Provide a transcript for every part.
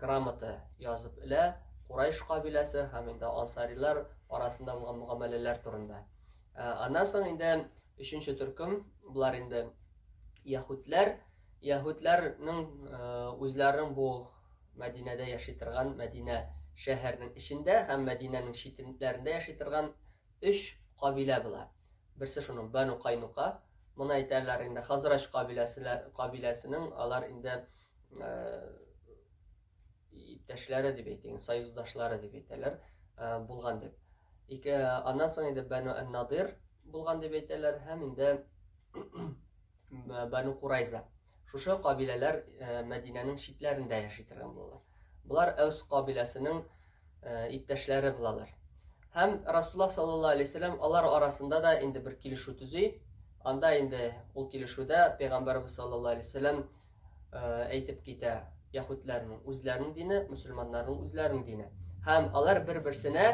грамота язып элә Курайш кабиләсе һәм инде ансарилар арасында булган мөгамәләләр турында. Аннан соң инде өченче төркем, болар инде яһүдләр. Яһүдләрнең үзләренең бу Мәдинәдә яши торган Мәдинә шәһәрнең эчендә һәм Мәдинәнең читләрендә яши торган өч кабилә була. Берсе шуның Бану Кайнука. Моны әйтәләр инде Хазрач кабиләсенең, алар инде иптәшләре дип әйтик, союздашлары дип әйтәләр, булган дип. Ике, аннан соң инде Бәну Ән-Надир булган дип әйтәләр һәм инде Бәну Курайза. Шушы кабиләләр Мәдинәнең читләрендә яши торган булалар. Болар Әүс кабиләсенең иптәшләре булалар. Һәм Расулла саллаллаһу алейһи вәсәлләм алар арасында да инде бер килешү төзи. Анда инде ул килешүдә пәйгамбәрбез саллаллаһу алейһи вәсәлләм әйтеп китә яһүдләрнең үзләренең дине, мөселманнарның үзләренең дине. Һәм алар бер-берсенә,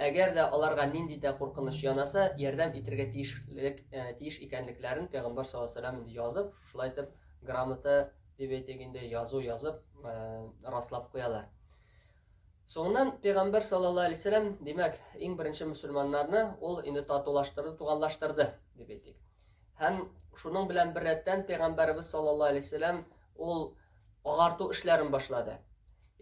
әгәр дә аларга нинди дә куркыныч янаса, ярдәм итәргә тиешлек тиеш икәнлекләрен Пәйгамбәр саллаллаһу алейһи вәсәлләм инде язып, шулай итеп грамота дип әйтик инде язу язып раслап куялар. Соңыннан Пәйгамбәр саллаллаһу алейһи вәсәлләм, димәк, иң беренче мөселманнарны ул инде татулаштырды, туганлаштырды дип әйтик. Һәм шуның белән бер рәттән пәйгамбәребез саллаллаһу алейһи вәсәлләм ул агарту эшләрен башлады.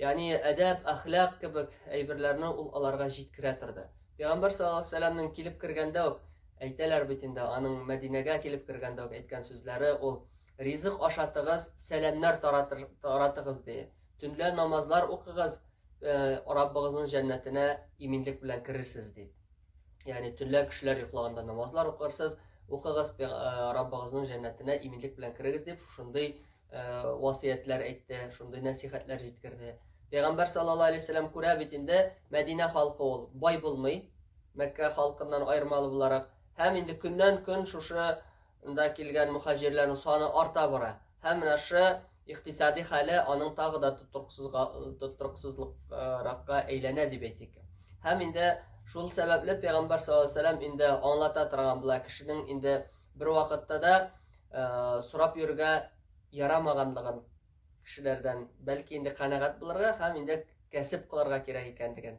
Ягъни әдәп, әхлак кебек әйберләрне ул аларга җиткерә торды. Пәйгамбәр саллаллаһу алейһи вәсәлләмнең килеп кергәндә үк әйтәләр бит инде, аның Мәдинәгә килеп кергәндә үк әйткән сүзләре ул ризык ашатыгыз, сәламнәр таратыгыз ди. Төнлә намазлар укыгыз, э, Раббыгызның җәннәтенә иминлек белән керерсез ди. Ягъни төнлә кешеләр йоклаганда намазлар укырсыз, укыгыз э, Раббыгызның җәннәтенә иминлек белән керегез дип шушындый э, васыятләр әйтте, шундый нәсихәтләр җиткерде. Пәйгамбәр саллаллаһу алейһи вәсәлләм күрә бит инде Мәдинә халкы ул бай булмый, Мәккә халкыннан аермалы буларак, һәм инде көннән-көн шушында килгән мухаҗирләрнең саны арта бара. Һәм менә шы икътисади хәле аның тагы да тотрыксызракка әйләнә дип әйтик. Һәм инде шул сәбәпле пәйгамбәр саллаллаһу инде аңлата торган була кешенең инде бер вакытта да э, сорап йөрергә ярамаганлыгын кешеләрдән, бәлки инде канәгать булырга һәм инде кәсеп кылырга кирәк икәнлеген.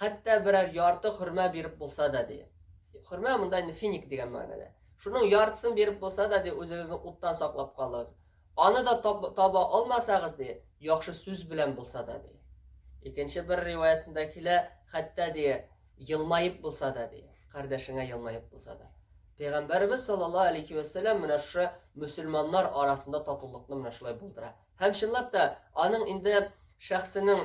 хәтта берәр ярты хөрмә биреп булса да, ди. Хөрмә монда инде финик дигән мәгънәдә. Шуның яртысын биреп булса да, ди, үзегезне уттан саклап калыгыз. Аны да таба алмасагыз, ди, яхшы сүз белән булса да, ди. Икенче бер риваятында килә, хәтта ди, елмаеп булса да, ди. Кардәшеңә елмаеп булса да. Пәйгамбәрбез саллаллаһу алейхи ва сәллам менә шушы мусульманнар арасында татулыкны менә шулай булдыра. Һәм чынлап та аның инде шәхсенең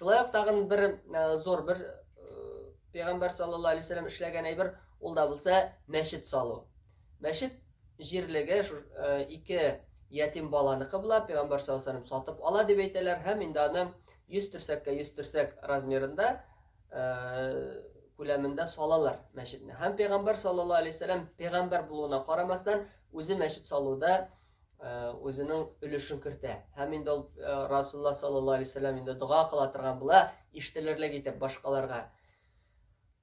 Шулай ук тагын бер э, зур бер э, пәйгамбәр саллаллаху алейхи вәсәлләм эшләгән әйбер, ул да булса мәчет салу. Мәчет җирлеге шу э, ике ятим баланыкы була, пәйгамбәр саллаллаху алейхи вәсәлләм сатып ала дип әйтәләр һәм инде аны 100 төрсәккә 100 төрсәк размерында күләмендә салалар мәчетне. Һәм пәйгамбәр саллаллаху алейхи вәсәлләм пәйгамбәр булуына карамастан, үзе мәчет салуда үзенең өлешен кертә. Һәм инде ул Расулла саллаллаһу алейһи вәсәлләм инде дога кыла торган була, ишетелерлек итеп башкаларга.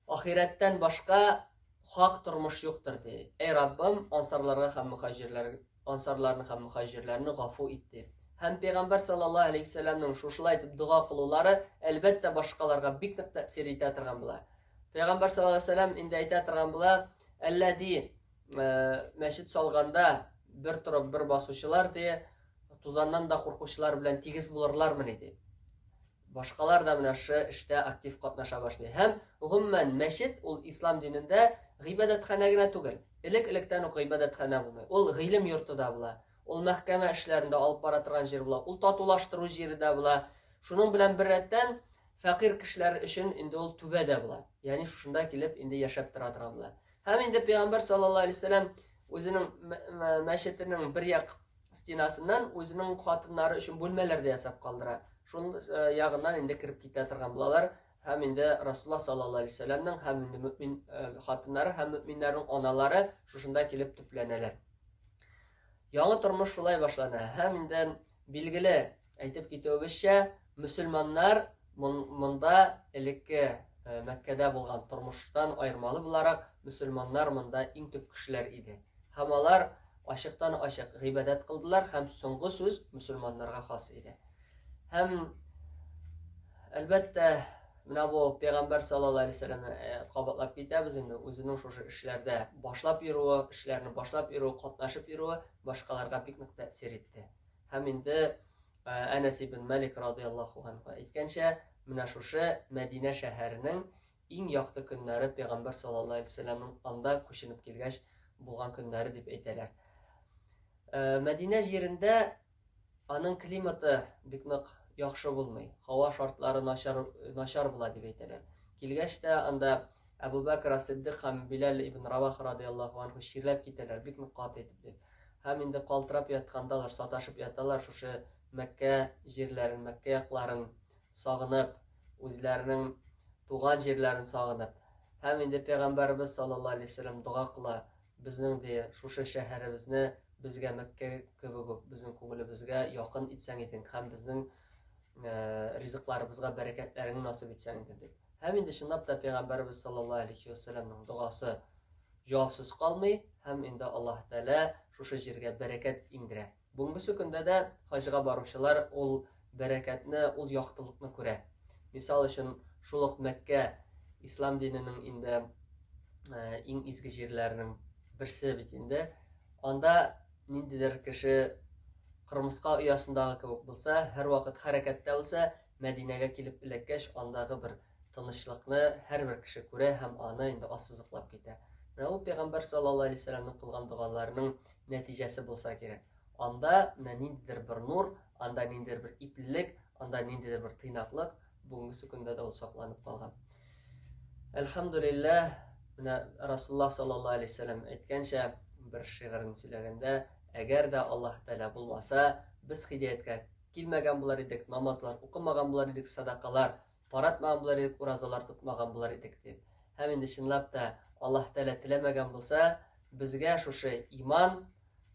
Ахирәттән башка хак тормыш юктыр ди. Әй Раббым, ансарларга һәм мөхаҗирләр, ансарларны һәм мөхаҗирләрне гафу ит ди. Һәм пәйгамбәр саллаллаһу алейһи вәсәлләмнең шушылай итеп дога кылулары, әлбәттә, башкаларга бик нык тәэсир итә торган була. Пәйгамбәр саллаллаһу алейһи вәсәлләм инде әйтә торган була, әлләди Э, мәчет салганда бер торып бер басучылар ди тузаннан да куркучылар белән тигез булырлармыни ди башкалар да менә шушы эштә актив катнаша башлый һәм гомумән мәчет ул ислам динендә гыйбадәтханә генә түгел элек электән үк гыйбадәтханә булмый ул гыйлем йорты да була ул мәхкәмә эшләрен дә алып бара торган җир була ул татулаштыру җире дә була шуның белән бер рәттән фәкыйрь кешеләр өчен инде ул түбә дә була ягъни шушында килеп инде яшәп тора торган була Һәм инде пәйгамбәр саллаллаһу алейһи вәсәлләм үзенең мәчетенең бер як стенасыннан үзенең хатыннары өчен бүлмәләр дә ясап калдыра. Шул э, ягыннан инде кереп китә торган булалар. Һәм инде Расулла саллаллаһу алейһи вәсәлләмнең һәм инде мөмин э, хатыннары һәм мөминнәрнең аналары шушында килеп төпләнәләр. Яңа тормыш шулай башлана. Һәм инде билгеле Әйтеп китүебезчә, мөселманнар монда элекке э, Мәккәдә булган тормыштан аермалы буларак, мөселманнар монда иң төп кешеләр иде. Һәм алар ачыктан ачык гыйбадәт кылдылар һәм соңгы сүз мөселманнарга хас иде. Һәм әлбәттә, менә бу пәйгамбәр саллаллаһу алейһи вәсәлләмне э, кабатлап китәбез инде, үзенең шушы эшләрдә башлап йөрүе, эшләрне башлап йөрүе, катнашып йөрүе башкаларга бик нык тәэсир итте. Һәм инде Әнәс ибн Мәлик радыяллаху анһу әйткәнчә, менә шушы Мәдинә шәһәренең иң якты көннәре пәйгамбәр саллаллаһу алейһи вәсәлләмнең анда күченеп килгәч булган көннәре дип әйтәләр. Э, Мәдинә җирендә аның климаты бик нык яхшы булмый. Һава шартлары начар начар була дип әйтәләр. Килгәч тә анда Әбү Бәкер ас-Сиддыйк һәм Биләл ибн Равах радыяллаһу анһу чирләп китәләр, бик нык каты итеп, дип. Һәм инде калтырап яткандалар, саташып яталар, шушы Мәккә җирләрен, Мәккә якларын сагынып, үзләренең туган җирләрен сагынып. Һәм инде Пәйгамбәребез саллаллаһу алейһи ва сәлләм дога кыла, безнең ди, шушы шәһәребезне безгә Мәккә кебек үк безнең күңелебезгә якын итсәң идең һәм безнең ризыкларыбызга бәрәкәтләреңне насыйп итсәң иде, дип. Һәм инде чынлап та пәйгамбәребез саллаллаһу алейхи ва сәлләмнең догасы җавапсыз калмый һәм инде Аллаһ Тәгалә шушы җиргә бәрәкәт иңдерә. Бүгенге көндә дә хаҗга баручылар ул бәрәкәтне, ул яктылыкны күрә. Мисал өчен, шул ук Мәккә ислам диненең инде иң изге җирләренең берсе бит инде. Анда ниндидер кеше кырмыска оясындагы кебек булса, һәрвакыт хәрәкәттә булса, Мәдинәгә килеп эләккәч, андагы бер тынычлыкны һәрбер кеше күрә һәм аны инде ассызыклап китә. Менә ул пәйгамбәр саллаллаһу алейһи вәсәлләмнең кылган догаларының нәтиҗәсе булса кирәк. Анда менә ниндидер бер нур, анда ниндидер бер иплелек, анда ниндидер бер тыйнаклык бүгенге көндә дә ул сакланып калган. Әлхәмдулиллаһ, менә Расулла саллаллаһу алейһи вәсәлләм әйткәнчә, бер шигырен сөйләгәндә, әгәр дә Аллаһ Тәгалә булмаса, без хидаяткә килмәгән булар идек, намазлар укымаган булар идек, садакалар таратмаган булар идек, уразалар тотмаган булар идек дип. Һәм инде чынлап та Аллаһ Тәгалә теләмәгән булса, безгә шушы иман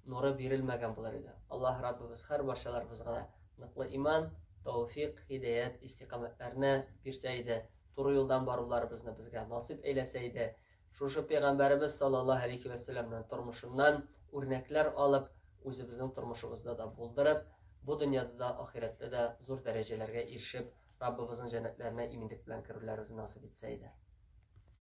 нуры бирелмәгән булар иде. Аллаһ Раббыбыз һәр барчаларыбызга да ныклы иман, тауфик, һидәят, истиқамәтләрне бирсә иде, туры юлдан баруларыбызны безгә насип әйләсә иде. Шушы пәйгамбәребез саллаллаһу алейхи вә сәлләмнең тормышыннан үрнәкләр алып, үзебезнең тормышыбызда да булдырып, бу дөньяда да, ахирәттә дә зур дәрәҗәләргә ирешеп, Раббыбызның җәннәтләренә иминлек белән керүләребезне насыйп итсә иде.